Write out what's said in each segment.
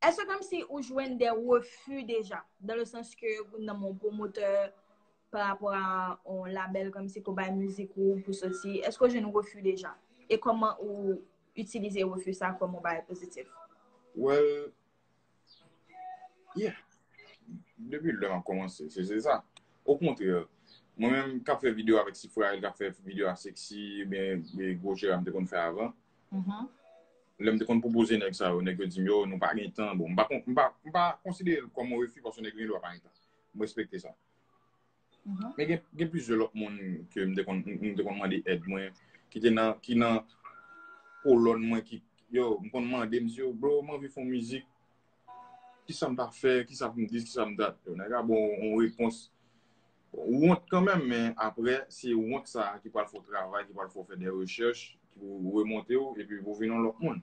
Eske kom si ou jwenn de refu deja? Dan le sans ke ou nan mon promoteur pa rapor a on label kom si pou bay mizik ou pou soti. Eske ou jwenn refu deja? E koman ou itilize refu sa kom on bagay pozitif? Well, yeah. Depi lè map komanse, se se sa. O kontre, mwen menm kap fè video avèk Sifrael, kap fè video a Sexy, men gwo jera mte konn fè avan. Lè m te konn pwopoze nèg sa yo, nèg yo di m yo, nou pa gen tan. Bon, m pa konsidere l kòm yon refi paske nèg yo gen dwa pa gen tan. M respekte sa. Men gen plizyè lòt moun ke m te konn mande èd mwen, ki te nan, ki nan kolòn mwen ki, yo, m konn mande, m di yo, bro, m anvi fè yon mizik, ki sa m ta fè, ki sa pou m dis, ki sa m dat. Yo, nèg la ba w yon repons Ou wont kanmenm men aprè se wont sa ki pral fè w travay, ki pral fè w fè de rechèch pou remonte w epi pou w vin yon lòt moun.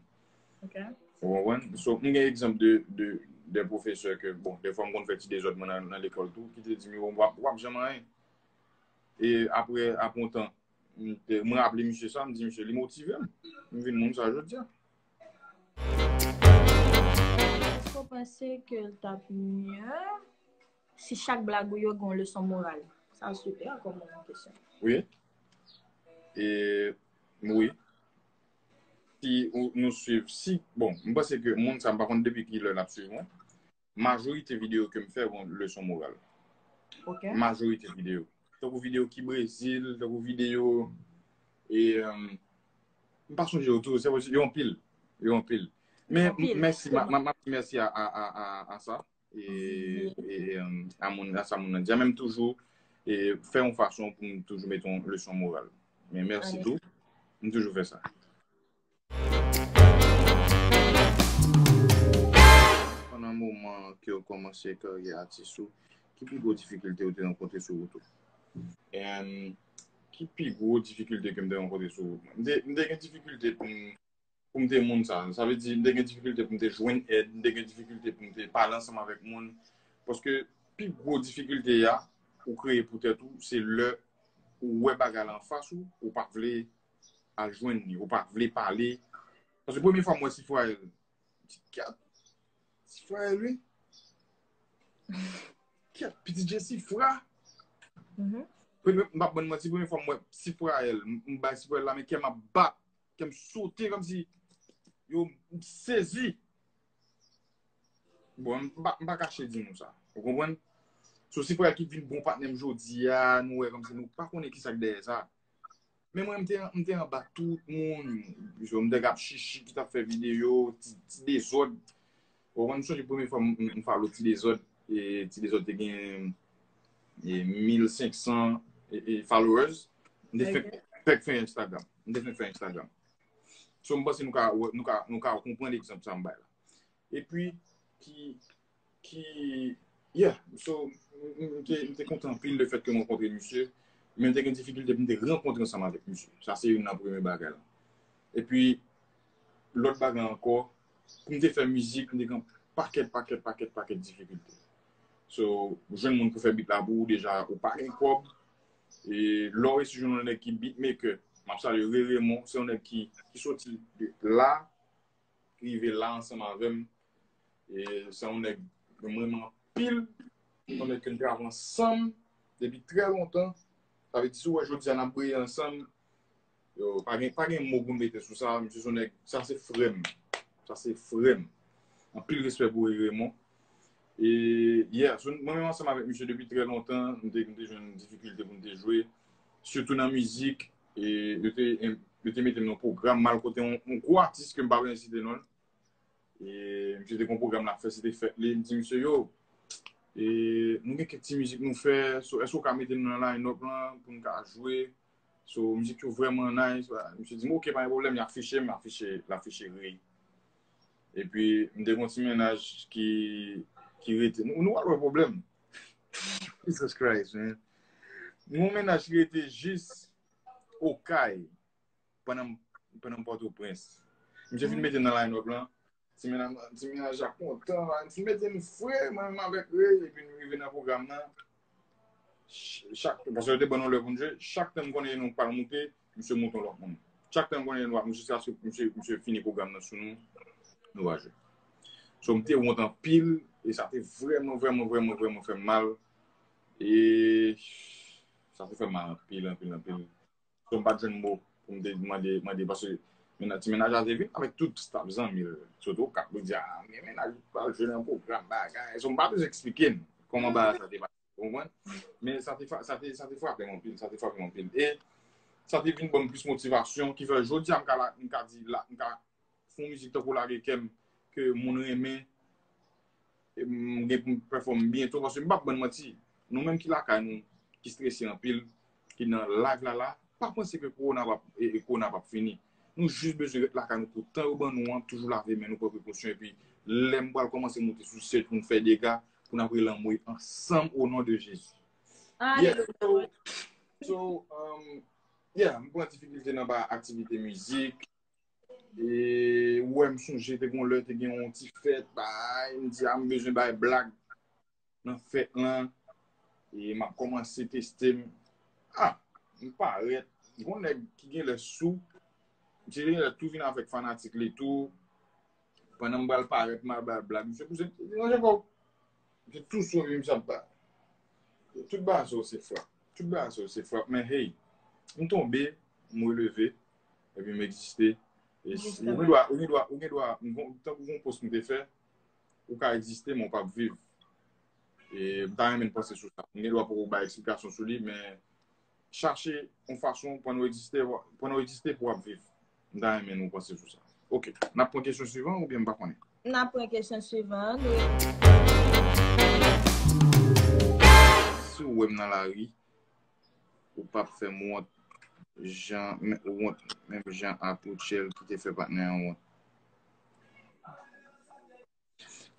Ok. Ou konprann? So, m gen egzanp de de pwofesè ke bon, dèfwa m konn fè ti dezòd mwen nan lekòl tou ki te di m yo w ap janm anyen. E aprè, aprè yon tan, m raple misye sa, m di misye li motive m. M vin moun sa jodi a. Èske w panse ke l t ap mye? Si chak blag ou yo gen yon leson moral. Sa super kom kesyon. Wi. E wi. Si ou nou swiv si. Bon, m panse ke moun sa m pa konn depi ki lè nap swiv mwen. Majorite video ke m fè gon leson moral. Ok. Majorite video. Tankou video ki Brezil, tankou video e m pa sonje yo tou, se yo anpil. Yo anpil. Men mèsi, mèsi a sa. a moun nan, sa moun nan di a, men m toujou fè yon fason pou m toujou mete yon leson moral. Men mèsi tou, m toujou fè sa. Pandan moman ke ou kòmanse karyè atis ou, ki pi gwo difikilte ou te rankontre sou wout ou? Ki pi gwo difikilte ke m te rankontre sou wout mwen? M te gen difikilte pou m pou m te moun sa. Sa vle di, m te gen difikilte pou m te jwenn èd, m te gen difikilte pou m te pale ansanm avèk moun. Paske, pi gwo difikilte a, ou kreye pou tèt ou, se lè ou wè bagay la anfas ou, ou pa vle al jwenn li, ou pa vle pale. Paske premye fwa m wè Sifrael, ti kat, Sifrael wi, kat, piti je Sifra. M pa ban n manti, premye fwa m wè Sifrael, m bay Sifrael la men kè m ap bat, Kèm sote kòm si yo m sezi. Bon, m pa kache di nou sa. Ou konpwen? So si frè ki vin bon patnèm jodi a, nou wè kòm si nou pa konnen ki sa k dèyè sa. Men mwen m te anba tout moun. M te gap chichi ki tap fè videyo, ti dezòd. Bon mwen m sonje premye fwa m follow ti dezòd, ti dezòd te gen 1500 followers, m te fèk fè Instagram, m te fèk fè Instagram. So m panse nou ka wè, nou ka, nou ka konprann egzanp sa m bay la. E pi ki, ki, yeah, so m te, m te kontan anpil le fèt ke m rankontre misye, men m te gen difikilte pou m te rankontre ansanm avèk misye. Sa se youn nan premye bagay la. E pi lòt bagay ankò, pou m te fè mizik, m te gen pakèt, pakèt, pakèt, pakèt difikilte. So, pou jwenn moun pou fè beat la pou ou deja ou pa gen kòb. E lè w resi jwenn yon nèg ki beatmaker, m ap salye Ray Raymond, se yon nèg ki soti la, ki rive la ansanm avè m. E se yon nèg m renmen anpil, se yon nèg ke n travay ansanm depi trè lontan. Sa vle di si w wè jodi a n ap breye ansanm. Yo, pa gen, pa gen mo pou m mete sou sa, misye son nèg, sa se frè m, sa se frè m. Anpil respè pou Ray Raymond. E, yeah, so mwen menm ansanm avèk misye depi trè lontan, m te, m te jwenn difikilte pou m te jwe, sitou nan mizik, e yo te, yo te mete m nan pwogram mal kote yon, yon gwo atis ke m pa bezwen site non l. E, misye te gen yon pwogram l ap fè, se te fèt li, m di misye, yo, e, nou gen kèk ti mizik nou fè, so èske ou ka mete nou nan line-up lan, pou nou ka jwe? So, mizik yo vreman nice. Misye di m ok, pa gen pwoblèm, yap fiche m, lap fiche Rey. E pi, m te gen yon ti mennaj ki rete. Nou pa gen pwoblèm. Jesus Christ, men. Gen yon mennaj ki rete jis Okay, pandan m Pòtoprens. Misye fin mete m nan line-up lan. Ti menaj, ti menaj la kontan, an ti mete m fre, mwen menm avèk li, epi nou rive nan pwogram nan, chak, paske yo te ban nou lè pou nou jwe, chak tan m konnen nou pa moute, misye moute yon lòt moun. Chak tan m konnen nou pa moute, jiska se misye, misye fini pwogram nan sou nou, nou va jwe. So m te wont anpil, e sa te vrèman, vrèman, vrèman, vrèman fè m mal, e sa te fè m mal anpil, anpil, anpil. Yo m pat jwenn mo pou m te mande mande paske menaj ti menaj la te vin avèk tout staf zanmi l sot okap pou di a men menaj ou pral jwe nan pwogram bagay so m pa bezwen eksplike n kòman bagay sa te pase ou konprann men sa te sa te sa te frape m anpil sa te frape m anpil e sa te vin ban m plis motivasyon ki fè jodi a m ka la m ka di la m ka Fon mizik tankou lage kèm ke moun renmen m gen pou m pèfòm byento paske m pap bann manti nou menm ki lakay nou ki strese anpil ki nan live la la pa panse ke kowona pap e kowona pap fini nou jis bezwen ret lakay nou pou tan yo ban nou an toujou lave men nou pran prekosyon epi lè m pral kòmanse moute sou sèj pou m fè dega pou n ap rele anmwey ansanm o non de Jezi yeah so so um yeah m pran difikilte nan ba aktivite mizik. E ou wè m sonje te gon lè te gen yon ti fèt bay, m di a m bezwen bay blag nan fèt lan. E m ap kòmanse teste m. A, m parèt, gon nèg ki gen lè sou, misye te gen lè tou vin avèk fanatik li tou. Pandan m pral parèt m ap bay blag, misye pouse m, misye ranje kò w. Misye tou sou li misye ap bay. Tout bagay sa yo se frap. Tout bagay sa yo se frap men hey, m tonbe, m releve. Ebyen m egziste. Ou gen dwa, ou gen dwa, ou gen dwa, tankou yon pos m te fè, ou ka egziste men w pap viv. E m ta renmen n panse sou sa. M gen dwa poko bay eksplikasyon sou li men chache yon fason pandan w egziste, pandan w egziste pou w ap viv. M ta renmen nou panse sou sa. Ok, n ap pran kesyon swivan oubyen m pa konnen? N ap pran kesyon swivan an, nou e. Si w wè m nan lari, ou pap fè m wont jan ou wont menm jan ak Rutshelle ki te fè patnè an wont.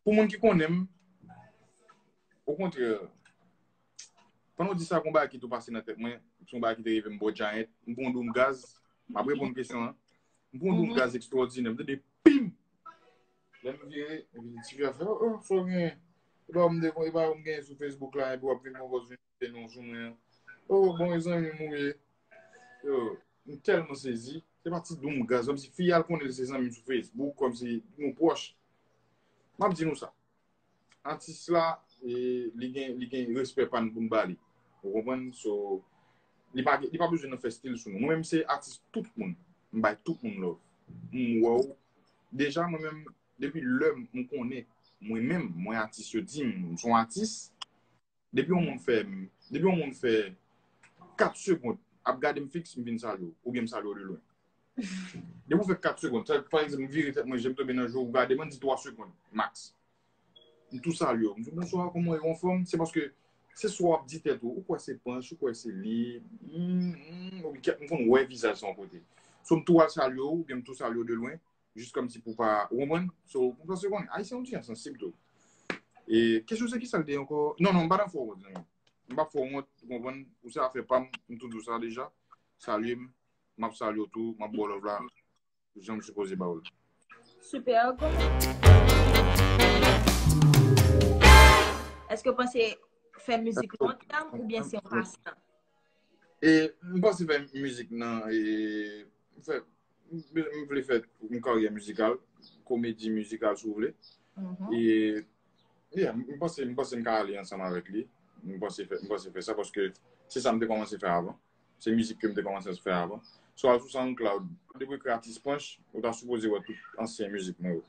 Pou moun ki konnen m, okontrè, pandan w di sa, gen yon bagay ki tou pase nan tèt mwen, se yon bagay ki te rive m bò Janet, m pran yon doum gaz, m ap reponn kesyon an, m pran yon doum gaz ekstwòdinè, m tande pim! Lè m vire, epi ti fi a fè, oh, oh, fò gen, epa ou m dekonn, epa ou m gen sou Facebook la, epi w ap vin pran pòz vin. Te nou jou mwen. Oh bon e zanmi mou ye. Yo, m telman sezi. Se pa ti doum gaz. Kom si fi al konnen se zanmi sou Facebook. Kom si nou pwoch. M ap di nou sa. Atis la, li gen respè pa nou pou m ba li. Ou konpwen? So, li pa bezwen nan fè stil sou nou. Mwen m se atis tout moun. M bay tout moun love. M wè ou. Deja mwen menm, depi lè m konnen mwen menm, mwen atis yo di m, m son atis. Depi yon moun fè, depi yon moun fè 4 segond ap gade m fiks m vin salye w oubyen m salye w de lwen. Depi ou fè 4 segond, sa pa egzanp m vire tèt mwen je m tonbe nan je w gade m an di 3 segond max. M tou salye w, m di bonswa kòman w ye ou anfòm? Se paske se sa w ap di tèt ou, ou kwè se panch, ou kwè se li, m m m konn wè vizaj sa yon kote. So m tou al salye w oubyen m tou salye w de lwen. Jis kòmsi pou pa, ou konprann? So, mwen panse konn, Ayisyen yon ti jan sansib tou. E, kesyon se ki sa l te ankò? Non, non, m pa nan fè w wont, zanmi m. M pap fè w wont, ou konprann? Ou se afè pa m, m tou di w sa deja. Salye m, m ap salye w tou, m ap ba w love la jan m sipoze ba w l. Super, gou men. Eske w panse fè mizik lontan oubyen se yon pastan? E, m panse fè mizik nan, e, m fè. M vle fè yon karyè mizikal, komedi mizikal si w vle. E m panse m ka ale ansanm avèk li. M panse fè sa paske se sa m te kòmanse fè avan. Se mizik ke m te kòmanse fè avan. Si w al sou SoundCloud, depi w ekri Atis Panch, ou ta sipoze wè tout ansyen mizik mwen yo.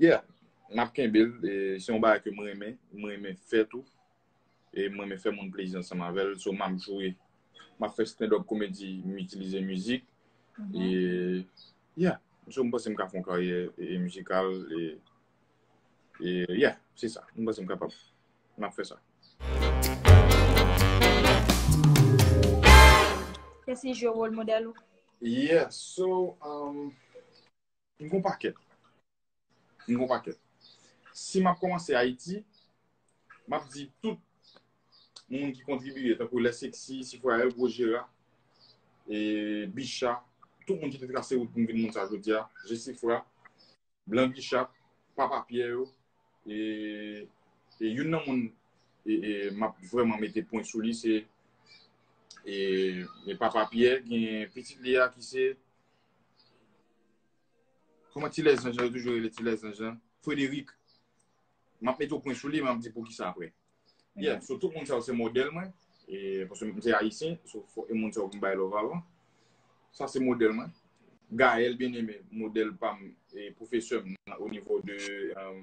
Yeah, n ap kenbe l. Se yon bagay ke m renmen, m renmen fè tou. e m renmen fè moun plezi ansanm avè l so m ap jwe m ap fè stand up komedi m itilize mizik e ya so m panse m ka fè yon karyè mizikal e ya se sa m panse m kapab m ap fè sa. Kèsi je wòl modèl ou? Yeah so. M gen yon pakèt. M gen yon pakèt. Si m ap kòmanse Ayiti, m ap di tout moun ki kontribiye, tankou Lè Seksi, Sifwayèl, Gwo Jera, Bicha, tout moun ki te trase wout pou m vin moun sa jodi a, Jesifra, Blan Bicha, Papa Pyè yo, e youn nan moun m ap vrèman mete pwen sou li se Papa Pyè, gen pitit li a ki se. Kouman ti lèzanj lan, yo toujou rele ti lèzanj lan, Frédéric, m ap mete yon pwen sou li, m ap di pou ki sa aprè. Yeah, so tout moun sa yo se modèl mwen, e paske m se Ayisyen, so fòk e moun sa yo pou m bay love avan. Sa se modèl mwen. Gaëlle Bien-Aimé, modèl pa m, e pwofesè m o nivo de, euh,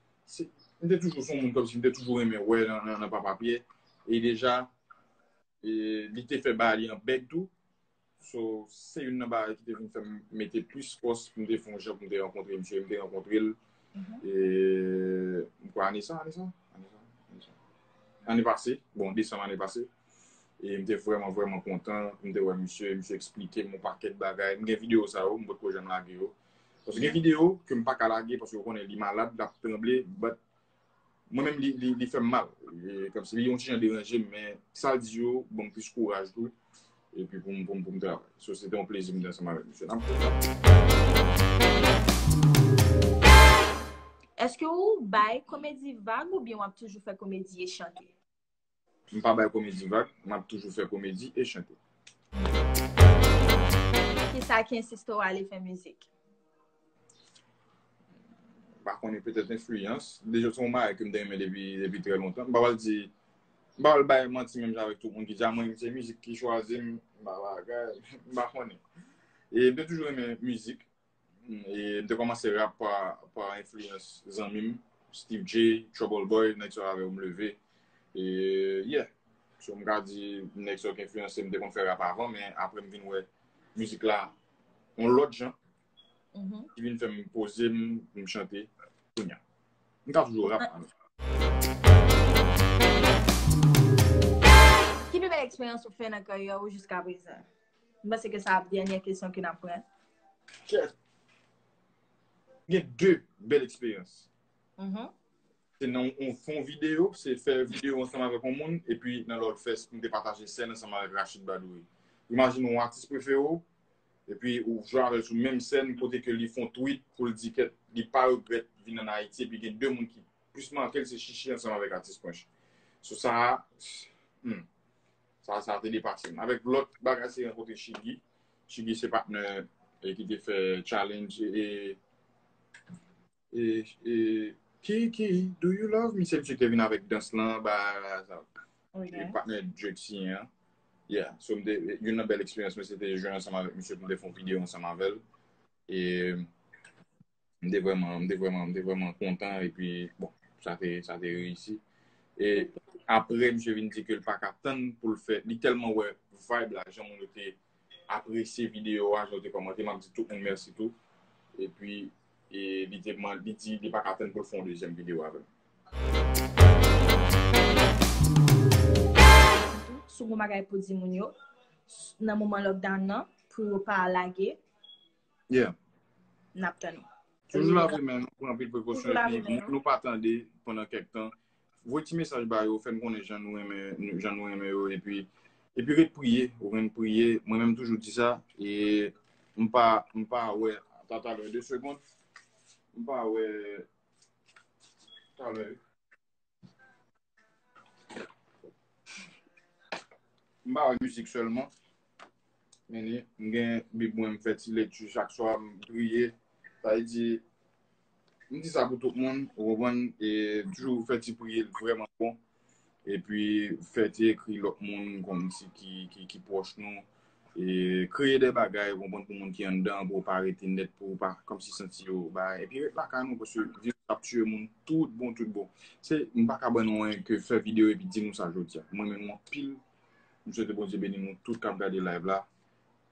m te toujou son moun kòmsi m te toujou renmen wè nan papa Pyè e deja li te fè bagay li an bèg tou so se youn nan bagay ki te vin fè m mete plis fòs pou m te fon jan pou m te rankontre misye e m te rankontre l m kwè ane sa ane sa ane pase bon desanm ane pase e m te vrèman vrèman kontan pou m te wè misye misye eksplike m yon pakèt bagay m gen videyo sa yo m potko janm lage yo Paske gen video ke m paka lage paske ou konnen li malad lap tranble but mwen menm li fèm mal kòmsi li yon ti jan deranje m men sal di yo banm plis kouraj tou epi poum poum travay so se te yon plezi m te ansanm avèk misye nap Eske ou bay komedi vag oubyen wap toujou fè komedi e chante? M pa bay komedi vag, m ap toujou fè komedi e chante. Poukisa ki ensiste w ale fè mizik? M pa konnen, petèt enfliyans. Deja se yon bagay ke m te renmen depi trè lontan. M pa pral di, m pa pral bay manti menm jan avèk tout moun ki di a mwen se mizik ki chwazi m, m pa konnen. E m te toujou renmen mizik. M te kòmanse rap pa enfliyans zanmi m, Steve Jay, Trouble Boy, nèg sa yo avè m leve. E yeah, so m ka di nèg sa yo ki enfliyanse m, m te konn fè rap avan men aprè m vin wè mizik la yon lòt jan ki vin fè m poze m pou m chante kounya. M ka toujou rap an. Ki pi bèl eksperyans ou fè nan karyè ou jiska prezan? M panse ke sa ap dènyè kesyon ke n ap pran. Chè. M gen 2 bèl eksperyans. Se nan yon fon videyo, se fè videyo ansanm avèk yon moun, epi nan lòt fè m te pataje sèn ansanm avèk Rachid Badouri. Imajine yon atis prefere w, epi ou jwe avè l sou menm sèn kote ke li fon tweet pou l di ke li pa regrèt vin an Ayiti, epi gen 2 moun ki plis make l se Shishi ansanm avèk atis Pwench. Sou sa a, humm. Sa sa te depase m. Avèk lòt bagay se rankontre Shiggy. Shiggy se patnè e ki te fè challenge e e e Kiki do you love me se misye ki te vin avèk dans lan ba sa. Ok. E patnè Drake siyen an. Yeah, so m te youn nan bèl eksperyans mwen se te jwe ansanm avèk misye pou m te fè yon videyo ansanm avèl. E m te vreman, m te vreman, m te vreman kontan e pi bon, sa te, sa te reyisi. E apre msye vin di ke l pa ka tann pou l fè, li tèlman wè vibe la, jan moun yo te apresye video a, jan yo te kòmante, m ap di tout moun mèsi tou. E pi, e li te man, li di li pa ka tann pou l fè yon dezyèm video avè m. Sou bon bagay pou di moun yo nan moman lockdown nan pou yo pa lage. Yeah. N ap tann ou. Toujou lave men nou, pran anpil prekosyon. Toujou lave men nou. Nou pa tande pandan kèk tan. Voye ti mesaj ba yo, fè n konnen jan nou renmen, jan nou renmen yo. Epi, epi ret priye, ou ren priye. Mwen menm toujou di sa. E m pa, m pa wè. Ata talè, 2 segond. M pa wè. Talè. M pa wè mizik sèlman. Men ni, m gen bib mwen, m fè ti lekti chak swa, m priye. Sa vle di, m di sa pou tout moun, ou konprann? E toujou fè ti priye l vrèman bon. Epi fè ti ekri lòt moun, konn si ki pwòch nou. Kreye de bagay ou konprann pou moun ki anndan an pou yo pa rete nèt pou yo pa kòmsi santi yo bagay. Epi ret lakay nou paske viris la ap tiye moun tout bon tout bon. Se m pa ka ban nou anyen ke fè videyo epi di nou sa jodi a. M renmen nou anpil. M swete Bondye beni nou tout k ap gade live la.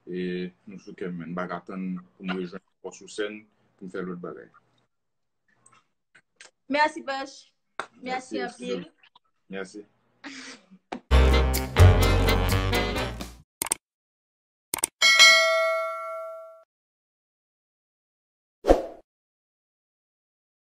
E nou sou kè m men. M pa ka tann pou m rejwenn ankò sou sèn pou m fè lòt bagay. Merci bèch. Merci anpil. Merci.